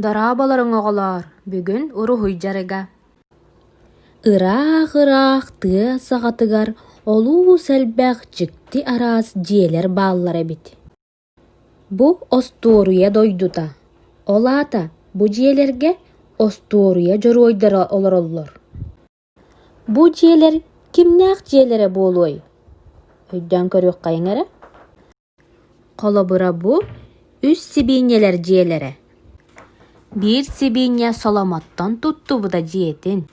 Дорооболоруҥ, оҕолоор! Бүгүн уруһуй дьарыга Ыраах-ыраах тыа саҕатыгар олус элбэх дьикти араас дьиэлэр бааллар эбит. Бу остуоруйа дойдута. Ол аата бу дьиэлэргэ остуоруйа дьоруойдара олороллор. Бу дьиэлэр кимнээх дьиэлэрэ буолуой? Өйдөөн көрүөххэйиҥ эрэ Холобура бу үс сибиинньэлэр дьиэлэрэ. Биир сибиинньэ Соломоттон туттубута дьиэтин,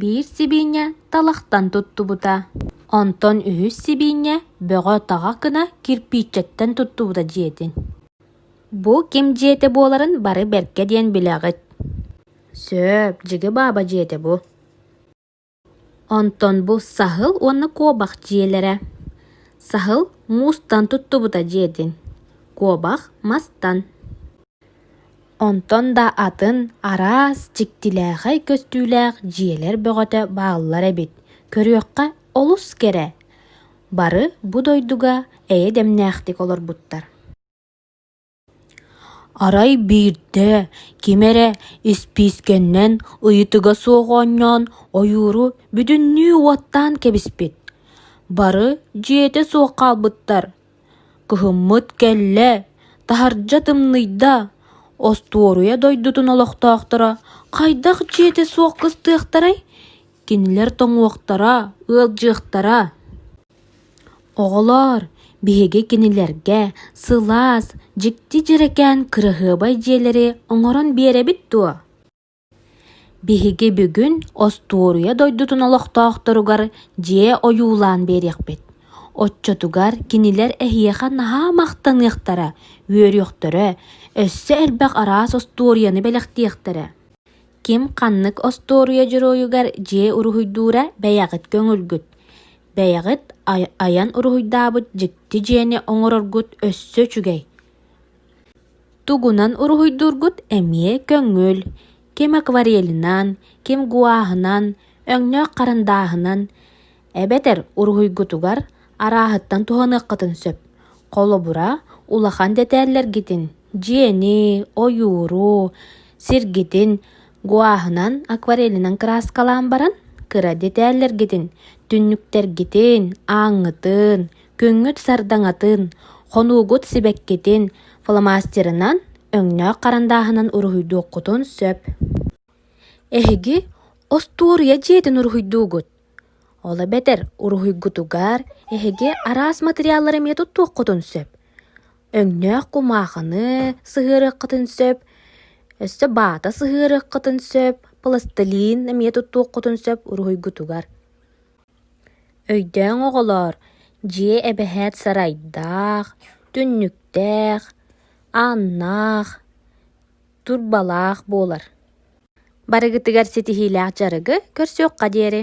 биир сибиинньэ Талахтан туттубута. Онтон үһүс сибиинньэ Бөҕө-Таҕа кына кирпииччэттэн туттубута дьиэтин. Бу ким дьиэтэ буоларын бары бэркэ диэн билэҕит. Сөп, дьиги бааба дьиэтэ бу Онтон бу саһыл уонна куобах дьиэлэрэ Саһыл муустан туттубута дьиэтин Куобах мастан Онтон да атын араас дьиктилээхэй көстүүлээх дьиэлэр бөҕөтө бааллар эбит Көрүөххэ олус кэрэ Бары бу дойдуга эйэ дэмнээхтик олорбуттар Арай биирдэ ким эрэ испиискэннэн ыйытыга суох оонньоон ойууру бүтүннүү уоттаан кэбиспит, бары дьиэтэ суох хаалбыттар, кыһыммыт кэллэ, таһырдьа тымныйда, остуоруйа дойдутун олохтоохторо «Хайдах дьиэтэ суох кыстыахтарай?» кинилэр тоҥуохтара, ыалдьыахтара Оҕолоор, биһиги кинилэргэ сылаас, дьикти дьэрэкээн кыраһыабай дьиэлэри оҥорон биэрэбит дуо? Биһиги бүгүн остуоруйа дойдутун олохтоохторугар дьиэ ойуулаан биэриэхпит. Оччотугар кинилэр эһиэхэ наһаа махтаныахтара, үөрүөхтэрэ, өссө элбэх араас остуоруйаны бэлэхтиэхтэрэ Ким ханнык остуоруйа дьоруойугар дьиэ уруһуйдуура бэйэҕит көҥүлгүт, бэйэҕит айан уруһуйдаабыт дьикти дьиэни оҥороргут өссө үчүгэй. Тугунан уруһуйдуургут эмиэ көҥүл, ким акварелинан, ким гуааһынан, өҥнөөх харандааһынан эбэтэр уруһуйгутугар арааһыттан туһаныаххытын сөп. Холобура, улахан дэтээллэргитин, дьиэни, ойууру, сиргитин гуаһынан, акварелинан кырааскалаан баран, кыра дэтээллэргитин, түннүктэргитин, ааҥҥытын, күҥҥүт сардаҥатын, хонуугут сибэккитин фломастерынан, өҥнөөх харандааһынан уруһуйдуоххутун сөп. Эһиги остуоруйа дьиэтин уруһуйдуугут. Ол эбэтэр уруһуйгутугар эһиги араас матырыйааллары эмиэ туттуоххутун сөп. Өҥнөөх кумаахыны сыһыарыаххытын сөп, өссө баата сыһыарыаххытын сөп, пластилин эмиэ туттуоххутун сөп уруһуйгутугар. Өйдөөҥ оҕолоор, дьиэ эбэһээт сарайдаах, түннүктээх, ааннаах, турбалаах буолар. Барыгытыгар ситиһиилээх дьарыгы көрсүөххэ диэри.